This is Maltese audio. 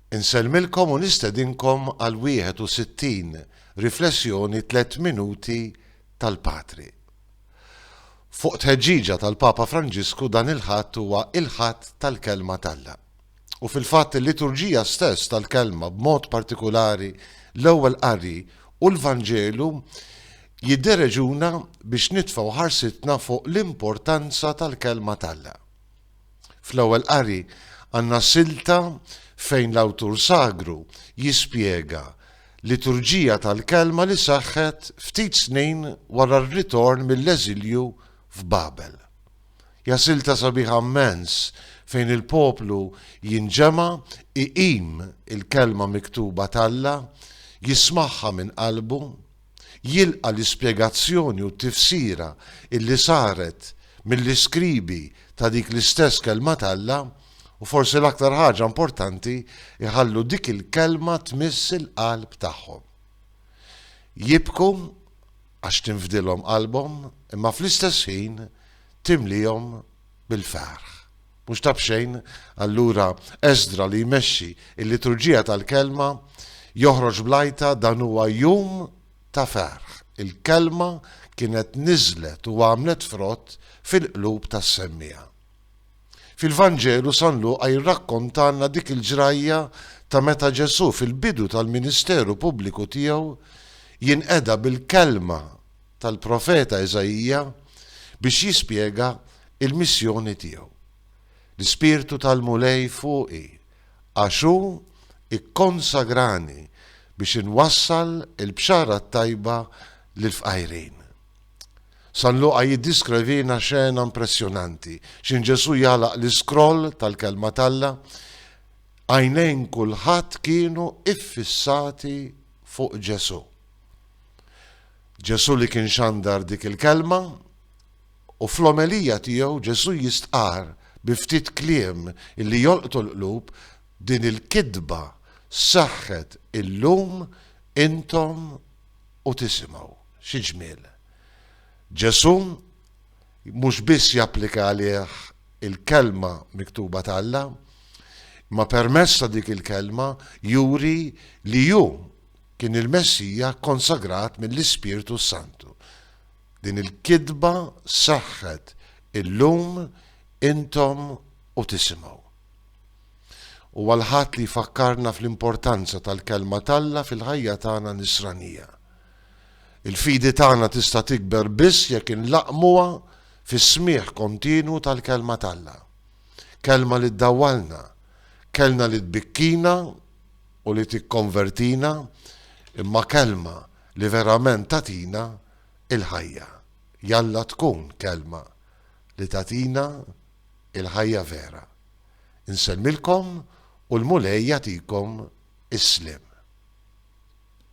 Insellmilkom u nistedinkom għal 61 Riflessjoni Tliet Minuti tal-Patri. Fuq tħeġġiġa tal-Papa Franġisku dan il-Ħadd huwa il-Ħadd tal-Kelma t'Alla. U fil-fatt il-liturġija stess tal-Kelma b'mod partikulari l-Ewwel Qari u l-Vanġelu jiddereġuna biex nitfgħu ħarsitna fuq l-importanza tal-Kelma t'Alla. Fl-ewwel qari għandna silta fejn l-awtur sagru jispjega liturġija tal-kelma li seħħet ftit snin wara r-ritorn mill-eżilju f'Babel. Hija silta sabiħa mmens fejn il-poplu jinġema', iqim il-kelma miktuba t'Alla, jismagħha minn qalbu, jilqa' l-ispjegazzjoni u t-tifsira illi saret mill-iskribi ta' dik l-istess Kelma t'Alla, u forsi l-aktar ħaġa importanti, iħallu dik il-Kelma tmiss il-qalb tagħhom. Jibku għax tinfdilhom qalbhom, imma fl-istess ħin timliehom bil-ferħ. Mhux ta' b'xejn, allura, Esdra li jmexxi l-liturġija tal-Kelma joħroġ bl-għajta dan huwa jum ta' ferħ, il-Kelma kienet niżlet u għamlet frott fil-qlub tas-semmiegħa. Fil-Vanġelu San Luqa jirrakkontalna dik il-ġrajja ta' meta Ġesù fil-bidu tal-ministeru pubbliku tiegħu jinqeda bil-Kelma tal-profeta Iżaija biex jispjega l-missjoni tiegħu, L-Ispirtu tal-Mulej fuqi, għax hu kkonsagrani biex inwassal il-Bxara t-Tajba lill-fqajrin. San Luqa jiddiskrivina xena impressjonanti, x'in Ġesù jagħlaq l-iskroll tal-Kelma t'Alla, għajnejn kulħadd kienu ffissati fuq Ġesù. Ġesù li kien xandar dik il-kelma, u fl-omelija tiegħu Ġesù jistqarr bi ftit kliem illi jolqtu l-qlub, din il-kitba sseħħet illum intom u tisimgħu. Xi ġmiel! Ġesù mhux biss japplika għalih il-kelma miktuba t'Alla, imma permezz ta' dik il-kelma juri li hu kien il-Messija kkonsagrat mill-Ispirtu s-Santu. Din il-kitba seħħet illum intom u tisimgħu. Huwa l-Ħadd li jfakkarna fl-importanza tal-Kelma t'Alla fil-ħajja tagħna nisranija. Il-fidi tagħna tista' tikber biss jekk inlaqqmuha fis-smigħ kontinwu tal-Kelma t'Alla. Kelma li ddawwalna, kelna li tbikkina u li tikkonvertina, imma kelma li verament tagħtina l-ħajja. Jalla tkun kelma li tagħtina l-ħajja vera. Insellmilkom u l-Mulej jagħtikom is-sliem.